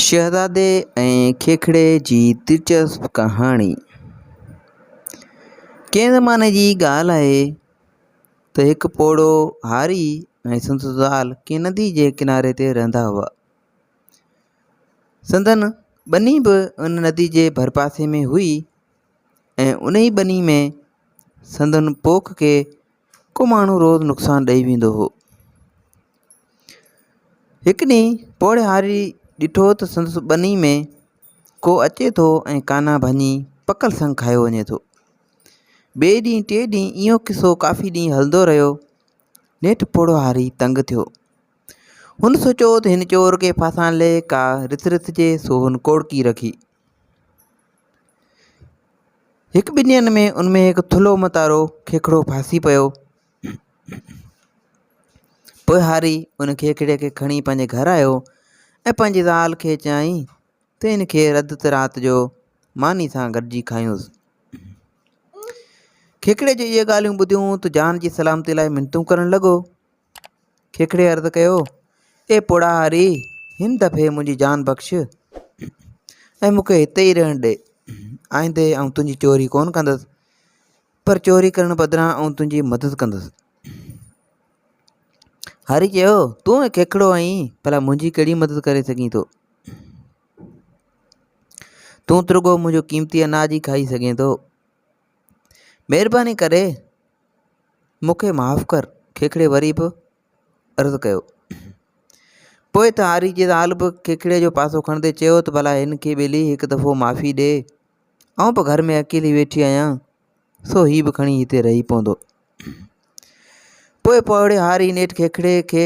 شهزادي ۽ کيکڙي جي دلچسپ ڪهاڻي ڪنهن زماني جي ڳالهه آهي ته هڪ پوڙهو هاري ۽ سندس زال ڪنهن ندي جي ڪناري تي رهندا هئا سندن ٻني به ان ندي جي ڀرپاسي ۾ هئي ۽ ان ئي ٻني ۾ سندن پوک کي ڪو ماڻهو روز نقصان ڏئي ويندو هو. هڪ ڏينهن پوڙهياري ڏٺو ته سندس ٻني ۾ ڪو اچي ٿو ۽ ڪانا ڀڃي پڪل سنگ کايو وڃي ٿو. ٻئي ڏينهن ٽئين ڏينهن اهو قصو ڪافي ڏينهن هلندو رهيو. نيٺ پوڙهياري تنگ ٿيو. هن سوچيو ته هن چور کي ڦاسائڻ لئي ڪا رٿ رٿجي سو هن ڪوڙڪي رکي. هڪ ٻن ڏينهن ۾ ان ۾ هڪ ٿلهو متارو کيکڙو ڦاسي پيو. پوء هاري ان کيکڙي کي کڻي پنهنجي گهر آيو ۽ پنهنجي زال کي چيائين ته ان کي رڌ ته رات جو ماني سان گڏجي کايونس. کيکڙي جي اهي ڳالهيون ٻڌيون ته جان جي سلامتي لاء منتون ڪرڻ لڳو. کيکڙي عرض ڪيو، اي پوڙهاهاري! هن دفعي منهنجي جان بخش ۽ مون کي هتي ئي رهڻ ڏي. آئندي آئون تنهنجي چوري ڪونه ڪندس، پر چوري ڪرڻ بدران آئون تنهنجي مدد ڪندس. هاري چيو، تون ۽ کيکڙو آهين، ڀلا منهنجي ڪهڙي مدد ڪري سگهين ٿو؟ تون ترڳو منهنجو قيمتي اناج ئي کائي سگهين ٿو. مھرباني ڪري مونکي معاف ڪر کيکڙي وري به عرض ڪيو. پوء ته آري جي زال به کيکڙي جو پاسو کڻندي چيو ته ڀلا ھن کي ٻيلي ھڪ دفعو معافي ڏي آئون به گھر ۾ اڪيلي ويٺي آھيان سو ھي به کڻي ھتي رھي پوندو. پوء پوڙھي ھاري نيٺ کيکڙي کي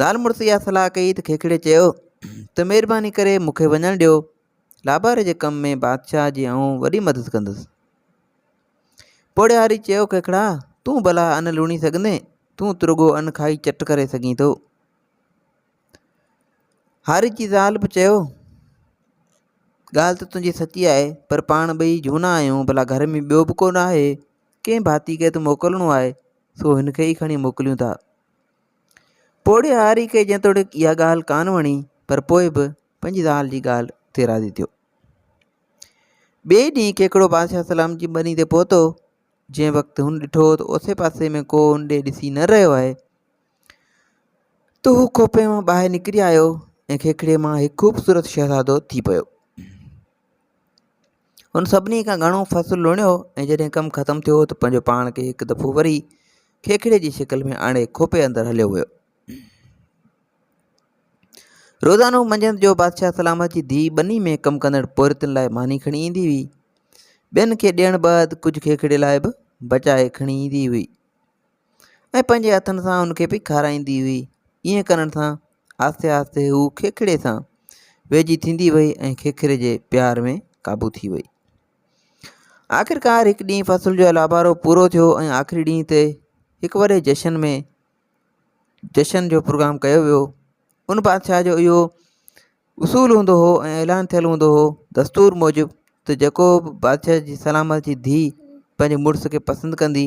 زال مڙس اها صلاح ڪئي ته کيکڙي چيو ته مهرباني ڪري مون کي وڃڻ ڏيو لاباري جي ڪم ۾ بادشاهه جي آئون وڏي مدد ڪندس پوڙهياري چيو کيکڙا تون ڀلا ان لوڻي سگهندين تون ته رڳو ان کائي چٽ ڪري سگهين ٿو هاري جي زال به چيو ڳالهه ته تنهنجي سچي آهي پر پاڻ ٻئي جهونا آهيون ڀلا گهر ۾ ٻيو به ڪو نه آهي ڪنهن ڀاتي کي ته موڪلڻو آهي سو هن کي ئي کڻي موڪليون ٿا پوڙهي هاري کي جيتوڻيڪ اها ڳالهه ڪانه وڻي پر پوء به پنهنجي زال جي ڳالهه تي راضي ٿيو. ٻئي ڏينهن کيکڙو بادشاهه سلام جي ٻني تي پهتو، جنهن وقت هن ڏٺو ته اوسي پاسي ۾ ڪو هن ڏي ڏسي نه رهيو آهي ته هو کوپي مان ٻاهر نڪري آيو ۽ کيکڙي مان هڪ خوبصورت شهزادو ٿي پيو. هن سڀني کان گهڻو فصل لوڻيو ۽ جڏهن ڪم ختم ٿيو ته پنهنجو پاڻ کي هڪ دفعو وري کيکڙي جي شڪل ۾ آڻي کوپي اندر هليو ويو روزانو منجهند جو بادشاهه سلامت جي ڌي ٻني ۾ ڪم ڪندڙ پورتن لاء ماني کڻي ايندي هئي ٻين کي ڏيڻ بعد ڪجهه کيکڙي لاء به بچائي کڻي ايندي هئي ۽ پنهنجي هٿن سان ان کي به کارائيندي هئي. ائين ڪرڻ سان آهستي آهستي هوء کيکڙي سان ويجهي ٿيندي وئي ۽ کيکري جي پيار ۾ قابو ٿي وئي. آخرڪار هڪ ڏينهن فصل جو لابارو پورو ٿيو ۽ آخري ڏينهن تي هڪ وڏي جشن ۾ جشن جو پروگرام ڪيو ويو. ان بادشاهه جو اهو اصول هوندو هو ۽ اعلان ٿيل هوندو هو دستور موجب ته جيڪو به بادشاهه جي سلامت جي ڌيء پنهنجي مڙس کي پسند ڪندي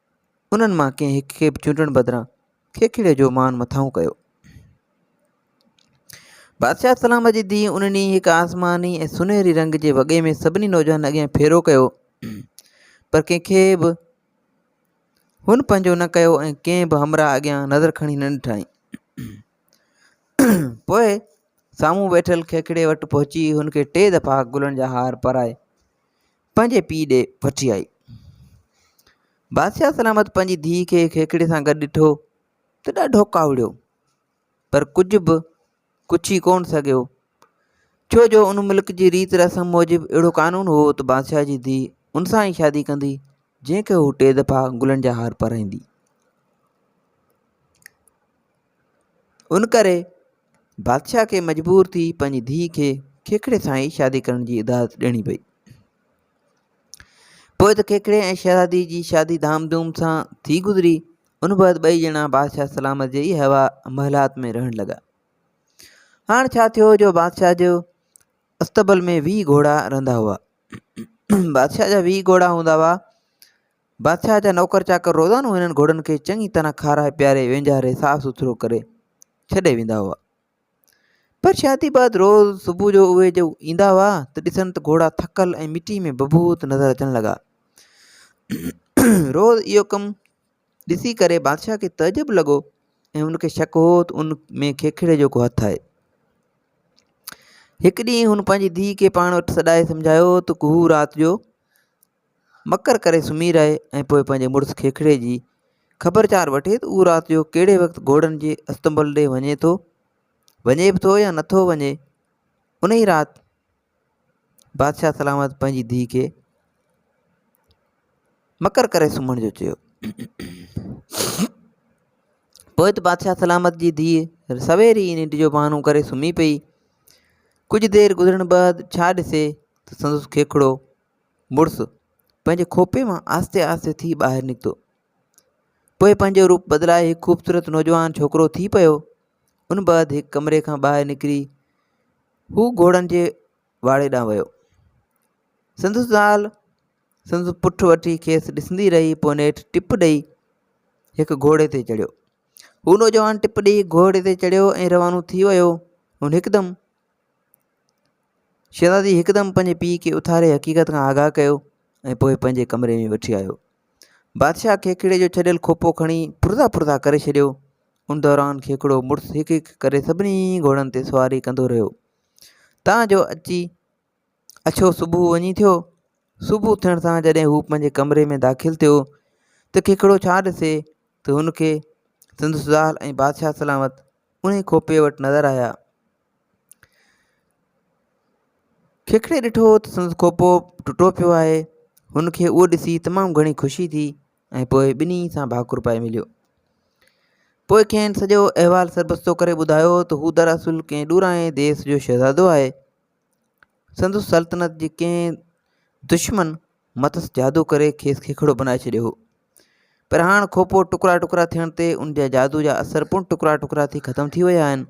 انهن مان ڪنهن هڪ کي به چونڊڻ بدران کيکيڙي جو مان مٿانهون ڪيو. بادشاهه سلام جي ڌيء ان ڏينهن هڪ آسماني ۽ سنهري رنگ جي وڳي ۾ سڀني نوجوانن اڳيان ڦيرو ڪيو پر ڪنهن کي به هن پنهنجو نه ڪيو ۽ ڪنهن به همراهه اڳيان نظر کڻي نه ڏٺائين. پوء سامهون ويٺل کيکيڙي وٽ پهچي هن کي ٽي دفعا گلن جا هار پرائي پنهنجي پيء ڏي وٺي آئي. بادشاهه سلامت پنهنجي ڌيء کي کيکڙي سان گڏ ڏٺو ته ڏاڍو ڪاوڙيو، پر ڪجهه به ڪڇي ڪونه سگهيو، ڇو جو ان ملڪ جي ريت رسم موجب اهڙو قانون هو ته بادشاهه جي ڌيء ان سان ئي شادي ڪندي، جنهن کي هو ٽي دفعا گلن جا هار پارائيندي. ان ڪري بادشاهه کي مجبور ٿي پنهنجي ڌيء کي کيکڙي سان ئي شادي ڪرڻ جي اجازت ڏيڻي پئي پوء ته کيکڙي ۽ شهزادي جي شادي ڌام ڌوم سان ٿي گذري ان بعد ٻئي ڄڻا بادشاهه سلامت جي ئي هوا محلات ۾ رهڻ لڳا هاڻ ڇا ٿيو جو بادشاهه جو استبل ۾ ويهه گهوڙا رهندا هئا بادشاهه جا ويهه گهوڙا هوندا هئا بادشاهه جا نوڪر چاڪر روزانو هنن گهوڙن کي چڱي طرح کارائي پياري وينجهاري صاف سٿرو ڪري ڇڏي ويندا هئا پر شادي بعد روز صبح جو اهي جو ايندا هئا ته ڏسن ته گهوڙا ٿڪل ۽ مٽي ۾ بڀوت نظر اچڻ لڳا روز اهو ڪم ڏسي ڪري بادشاهه کي تعجب لڳو ۽ ان کي شڪ هو ته ان ۾ کيکڙي جو ڪو هٿ آهي هڪ ڏينهن هن پنهنجي ڌيء کي پاڻ وٽ سڏائي سمجهايو ته هو رات جو مڪر ڪري سمهي رهي ۽ پوء پنهنجي مڙس کيکڙي جي خبرچار وٺي ته اهو رات جو ڪهڙي وقت گهوڙن جي استنبول ڏي وڃي ٿو، وڃي به ٿو يا نٿو وڃي. انهي رات بادشاهه سلامت پنهنجي ڌيء کي مڪر ڪري سمهڻ جو چيو. پوء ته بادشاهه سلامت جي ڌيء سوير ئي ننڊ جو بهانو ڪري سمهي پئي. ڪجهه دير گذرڻ بعد ڇا ڏسي ته سندس کيکڙو مڙس پنهنجي کوپي مان آهستي آهستي ٿي ٻاهر نڪتو. پوء پنهنجو روپ بدلائي هڪ خوبصورت نوجوان ڇوڪرو ٿي پيو. ان بعد هڪ ڪمري کان ٻاهر نڪري هو گهوڙن جي واڙي ڏانهن ويو. سندس زال سندس پٺ وٺي کيس ڏسندي رهي پوء نيٺ ٽپ ڏئي هڪ گهوڙي تي چڙهيو. هو نوجوان ٽپ ڏئي گهوڙي تي چڙهيو ۽ روانو ٿي ويو. هن هڪدم شهزادي هڪدم پنهنجي پيء کي اٿاري حقيقت کان آگاهه ڪيو ۽ پوء پنهنجي ڪمري ۾ وٺي آيو بادشاهه کيکڙي جو ڇڏيل کوپو کڻي پرزا پرزا ڪري ڇڏيو ان دوران کيکڙو مڙس هڪ هڪ ڪري سڀني گهوڙن تي سواري ڪندو رهيو تان جو اچي اڇو صبح وڃي ٿيو صبح ٿيڻ سان جڏهن هو پنهنجي ڪمري ۾ داخل ٿيو ته کيکڙو ڇا ڏسي ته هن کي سندس زال ۽ بادشاهه سلامت انهي کوپي وٽ نظر آيا کيکڙي ڏٺو ته سندس کوپو ٽٽو پيو آهي هن کي اهو ڏسي تمام گهڻي خوشي ٿي ۽ پوء ٻنهي سان ڀاڪر پائي مليو پوء کين سڄو احوال سربستو ڪري ٻڌايو ته هو دراصل ڪنهن ڏورانهين ديس جو شهزادو آهي سندس سلطنت جي ڪنهن دشمن مٿس جادو ڪري کيس کيکڙو بنائي ڇڏيو هو پر هاڻ کوپو ٽڪرا ٽڪرا ٿيڻ تي ان جا جادو جا اثر پڻ ٽڪرا ٽڪرا ٿي ختم ٿي ويا آهن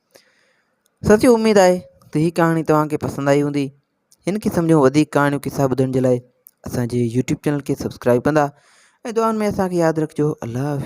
ساتھيو اميد آھي ته هي ڪهاڻي توهان کي پسند آئي هوندي هن قسم جون وڌيڪ ڪهاڻيون قصا ٻڌڻ جي لاء اسان جي يوٽيوب چينل کي سبسڪرائب ڪندا ۽ دعائن ۾ اسان کي ياد رکجو الله حافظ